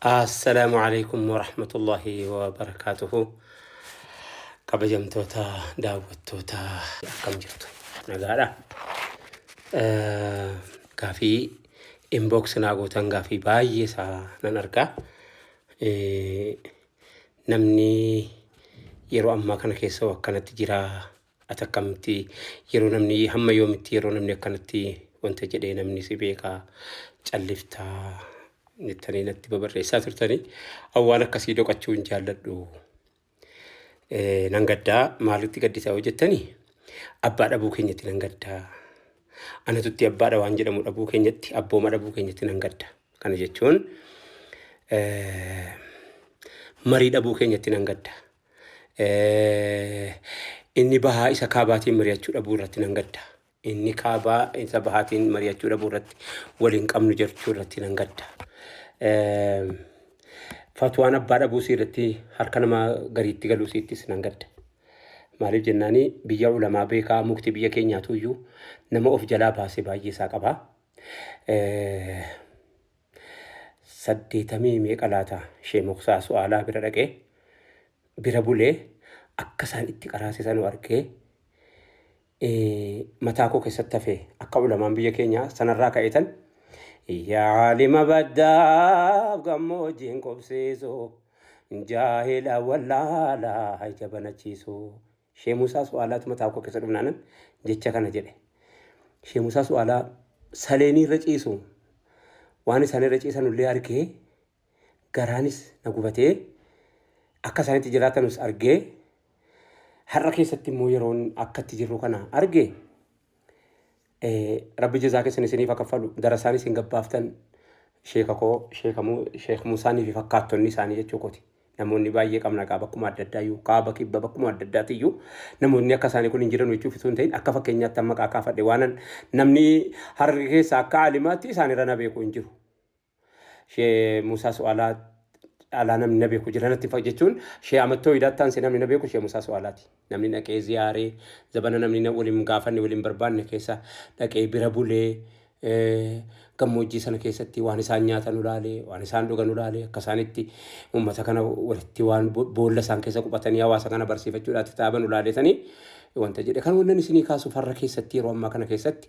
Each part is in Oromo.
Assalaamu alaikum warahmatullahi wabarakaatuhu. Kabajamtoota daawwattoota akkam jirtu nagaadha. Eh, Gaafii inbox naa gootan gaafii baay'ee isaa nan argaa. Eh, Namni yeroo ammaa kana keessa akkanatti jira Ati akkamitti yeroo namni hamma yoomitti yeroo namni akkanatti wanta jedhee namni si beekaa calliftaa jettanii natti babarreessaa turtanii awwaan akkasii doqachuu hin jaalladhu. Eh, Nan gaddaa maalitti gaddisaa yoo jettanii abbaa dhabuu keenyatti nan gaddaa. Anatutti abbaadha waan jedhamu dhabuu keenyatti abbooma dhabuu keenyatti nan gadda. Kana jechuun eh, marii dhabuu keenyatti nan gadda. Eh, Inni bahaa isa kaabaatiin mari'achuu dhabuu irratti nan gadda. Inni kaabaa isa bahaatiin mari'achuu dhabuu irratti wal hin qabnu jechuu irratti nan gadda. Eh, Fatwaan abbaa dhabuu isii irratti harka nama gariitti galuu isiittis nan gadda. Maaliif jennaani biyya ulamaa beekaa mukti biyya keenyaatu iyyuu nama of jalaa baase baay'ee isaa qaba. Eh, saddeetamii meeqa laata shee moksaa su'aalaa bira dhaqee bira bulee akka isaan itti qaraasisanuu argee mataa koo keessatti hafee akka ulamaan biyya keenyaa sanarraa ka'eetan yaalima baddaaf gammoojjiin qubsiisu jaahila wallaalaa ija banachiisu Shee Musaa Su'aalaatu mataa koo keessa dhumnaanan jecha kana jedhe. Shee Musaa Su'aalaa saleenii irra ciisu waan isaan irra ciisan illee argee garaanis na gubatee akka isaan itti jiraatanus argee har'a keessatti immoo yeroon akka itti jirru kana arge Rabbi jazaa keessan isiniif haa kaffalu. Darasaan isin gabbaaftan sheeka koo sheeka Mu- sheek Muusaanii fi fakkaattonni isaanii jechuu kooti. Namoonni baay'ee qabna kaa bakkuma adda addaa iyyuu kaaba kibba bakkuma adda addaati iyyuu namoonni akka isaanii kun hin jiran jechuuf utuu hin ta'in akka fakkeenyaatti amma maqaa kaafadhe waanan namni hararge keessa akka aalimaatti isaanirra na beeku hin jiru. Shee Musaa Su'aalaa caalaa namni na beeku jira natti fa'a jechuun shee amattoo idaattaan si namni na beeku shee Musaa Su'aalaati. Namni dhaqee ziyaaree zabana namni na waliin gaafanne waliin barbaanne keessa dhaqee bira bulee eh, gammoojjii sana keessatti waan isaan nyaatan ulaalee waan isaan dhugan ulaalee akka isaanitti uummata kana walitti waan bo- boolla isaan keessa quphatanii hawaasa kana barsiifachuudhaatti taaban ulaaleetanii wanta jedhe kan wannan isinii kaasu farra keessatti yeroo ammaa kana keessatti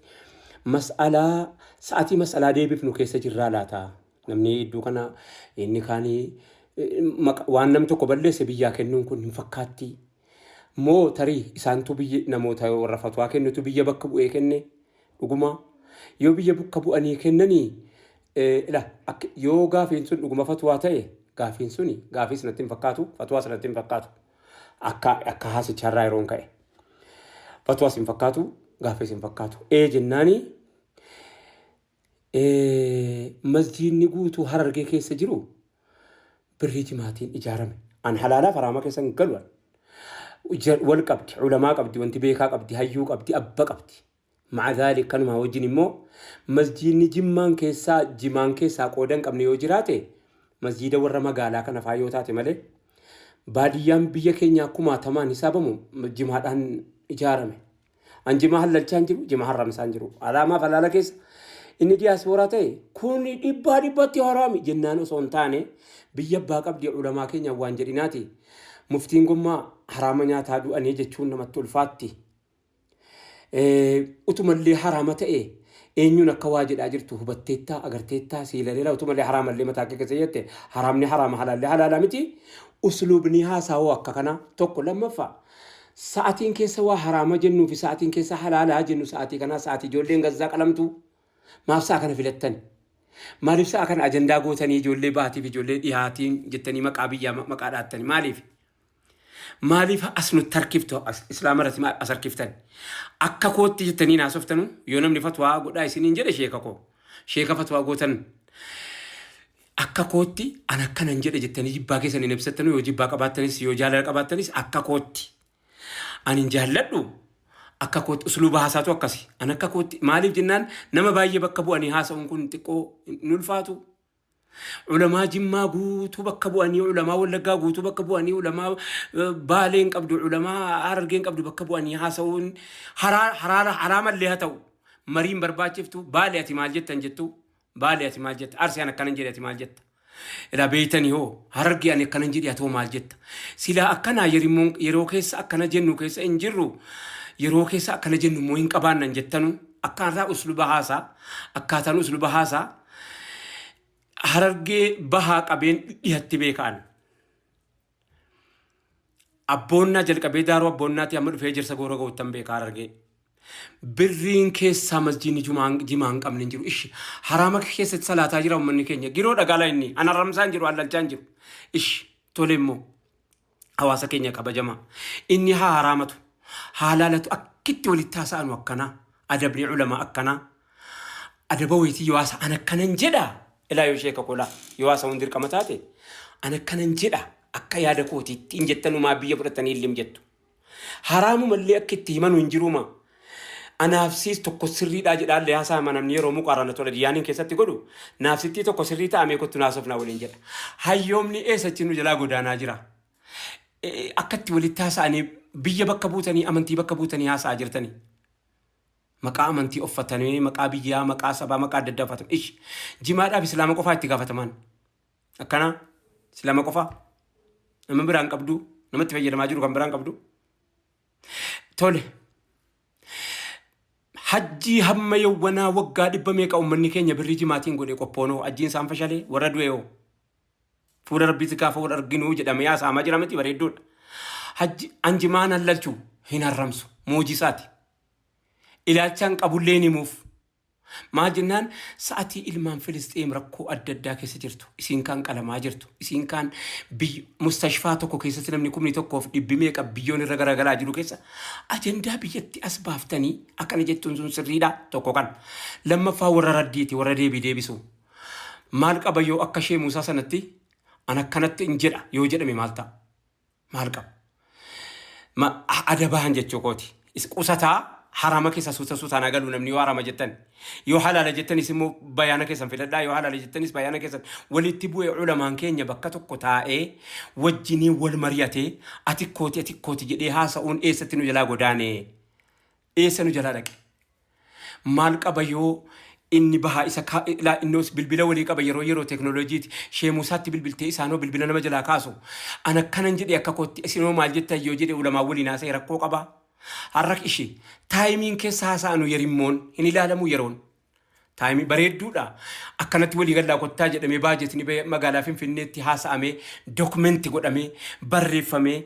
Mas'alaa sa'atii mas'alaa deebifnu keessa jirraa laata? Namni iddoo kana inni kaanii eh, maqa- waan nam tokko balleesse biyyaa kennuun kun hin fakkaatti. Moo tarii isaantu biyya namoota warra fatwaa kennutu biyya bakka bu'ee kenne dhuguma yoo biyya bakka bu'anii kennanii eh, ila akka- yoo gaafiin sun dhuguma fatwaa ta'e gaafiin suni gaafiis natti hin fakkaatu fatwaas natti hin fakkaatu. Akka akka haasicharraa yeroon ka'e. Fatwaas hin fakkaatu, gaaffiis hin fakkaatu. Ee jennaani ee, masjiidni guutuu harargee keessa jiru birrii timaatiin ijaarame. An halaalaaf haraama keessa hin galu. an. Ja- Wal qabdi, ulamaa qabdi, wanti beekaa qabdi, hayyuu qabdi, abba qabdi. Ma'a zaalik kanumaa wajjin immoo masjiidni jimmaan keessaa jimaan keessaa qooda hin qabne yoo jiraate masjiida warra magaalaa kana faa yoo taate malee baadiyyaan biyya keenyaa kumaatamaan hisaabamu jimaadhaan ijaarame. An jimaa hallalchaa hin jiru, jimaa harramsaa hin jiru. Alaamaaf halaala keessa inni diyaasbooraa ta'e kun dhibbaa dhibbatti haraami jennaan osoo hin taane biyya abbaa qabdi ulamaa keenya waan jedhinaati. Muftiin gommaa haraama nyaataa du'anii jechuun namatti ulfaatti. Utumallee haraama ta'e eenyuun akka waa jedhaa jirtu hubatteettaa agarteettaa sii laleera utumallee haraamallee mataa akka keessa jette haraamni haraama halaallee halaala miti usluubni haasaawoo akka kanaa tokko lammaffaa sa'atiin keessa waa haraama jennuu fi sa'atiin keessa halaalaa jennu sa'atii kanaa sa'atii ijoolleen gazzaa qalamtu maaf sa'a kana filattan maaliif sa'a kana ajandaa gootanii ijoollee baatiif ijoollee dhihaatiin jettanii maqaa biyyaa maqaa dhaattanii maaliif Maaliif as nutti harkiftu as islaama irratti maal as harkiftan? Akka kootti jettanii naasoftanu yoo namni fatwaa godhaa isiniin jedhe sheeka koo. Sheeka fatwaa gootan akka kootti an akkanan jedhe jettanii jibbaa keessan hin ibsattanu yoo jibbaa qabaattanis yoo jaalala qabaattanis akka kootti. Ani hin jaalladhu akka kootti usluuba haasaatu akkasi. An akka kootti maaliif jennaan nama baay'ee bakka bu'anii haasa'uun kun xiqqoo hin ulfaatu. Ulamaa Jimmaa guutuu bakka bu'anii, ulamaa Wallaggaa guutuu bakka bu'anii, ulamaa eh, Baalee hin qabdu, ulamaa Harargee hin qabdu bakka bu'anii haasa'uun haraa- haraara- haraamallee haa ta'u mariin barbaachiftu Baale ati maal jettan jettu Baale ati maal jetta Arsii an akkanan jedhe ati maal jetta ilaa beeytanii hoo Harargee ani akkanan jedhe atoo maal jetta silaa akkanaa yerimmoon- yeroo keessa akkana jennu keessa hin jirru yeroo keessa akkana jennu immoo hin qabaannan jettanu akkaataa usluba haasaa akkaataan usluba haasaa Harargee bahaa qabeen dhihatti beekaan. Abboonnaa jalqabee daaruu abboonnaatii amma dhufee jirsa goora goottan beekaa harargee. Birriin keessaa masjiinni jumaan jimaa hin qabne hin jiru. Ishi haraama keessatti salaataa jira uummanni keenya. Giroo dhagaalaa inni an haramsaan jiru allalchaan jiru. Ishi tole immoo. hawaasa keenya kabajama inni haa haraamatu haa laalatu akkitti walitti haasa'anu akkanaa adabni ulama akkanaa adaba wayitii yoo haasa an akkanan jedha ilaa yoo sheeka kolaa yoo haasa hundi dirqama taate an akkanan jedha akka yaada kootiitti hin jettanumaa biyya fudhatanii illim jettu haraamu mallee akka itti himanu hin jiruumaa Anaafsiis tokko sirriidhaa jedhaan liyaasaa hima namni yeroo muqaarana tola diyaaniin keessatti godhu naafsittii tokko sirrii ta'a mee kottu naasofnaa waliin jedha. Hayyoomni eessachi nu jalaa godaanaa jira. Akkatti walitti haasa'anii biyya bakka buutanii amantii bakka buutanii haasa'aa jirtanii. Maqaa amantii offatanii maqaa biyyaa maqaa sabaa maqaa adda addaa uffatan. Ish jimaadhaaf islaama qofaa itti gaafatamaan. Akkana islaama qofaa nama biraan qabdu namatti fayyadamaa jiru kan biraan qabdu. Tole. Hajjii hamma yawwanaa waggaa dhibba meeqa ummanni keenya birrii jimaatiin godhe qophoonoo hajjiin isaan fashalee warra du'eeoo. Fuula rabbiitti gaafa wal arginuu jedhamee haasa'amaa jira miti bareedduudha. Hajji an jimaan hallalchu hin harramsu moojisaati. Ilaalchaan qabullee hin himuuf Maal jennaan sa'atii ilmaan Filisxeem rakkoo adda addaa keessa jirtu. Isiin kaan qalamaa jirtu. Isiin kaan biy- mustashfaa tokko keessatti namni kumni tokkoof dhibbi meeqa biyyoon irra garagalaa jiru keessa ajandaa biyyatti as baaftanii akkana jettuun sun sirriidha tokko kan. Lammaffaa warra raddiiti warra deebii deebisu. Maal qaba yoo akka ishee Muusaa sanatti an akkanatti hin jedha yoo jedhame maal ta'a? maal qabu? Ma, a- ada bahan jechuu kooti. Is qusataa harama keessa suuta suutaan haa galuu namni yoo harama jettan. Yoo halaala jettanis immoo bayaana keessan fidadhaa yoo halaala jettanis bayaana keessan walitti bu'ee ulamaan keenya bakka tokko taa'ee wajjiniin wal mari'atee ati kooti ati kooti jedhee haasa'uun eessatti nu jalaa godaanee. Eessa nu jalaa dhaqe? Maal qaba yoo inni bahaa isa ka- ilaa innos bilbila walii qaba yeroo yeroo teknooloojiiti sheemuu isaatti bilbiltee isaanoo bilbila nama jalaa kaasu an akkanan jedhe akka kootti isinoo maal jettan yoo jedhe ulamaan waliin haasa'e rakkoo qaba har'a ishee taayimiin keessa haasa'anu yerimmoon hin ilaalamu yeroon Taayimii bareedduudha. Akkanatti walii gallaa kottaa jedhamee baajetni ba'ee magaalaa Finfinneetti haasa'amee dokumenti godhamee barreeffamee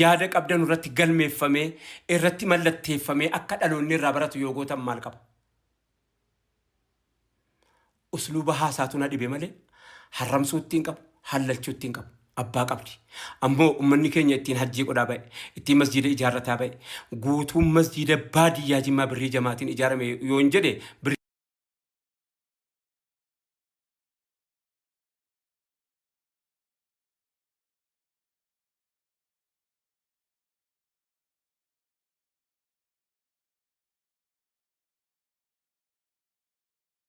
yaada qabdanu irratti galmeeffamee irratti mallatteeffamee akka dhaloonni irraa baratu yoo gootan maal qaba? Usluuba haasaatu na dhibe malee harramsuutti hin qabu, hallalchuutti hin qabu. abbaa qabdi. Ammoo ummanni keenya ittiin hajjii godhaa ba'e, ittiin masjiida ijaarrataa ba'e. Guutuun masjiida baadiyyaa Jimmaa birrii jamaatiin ijaarame yoon jedhe birrii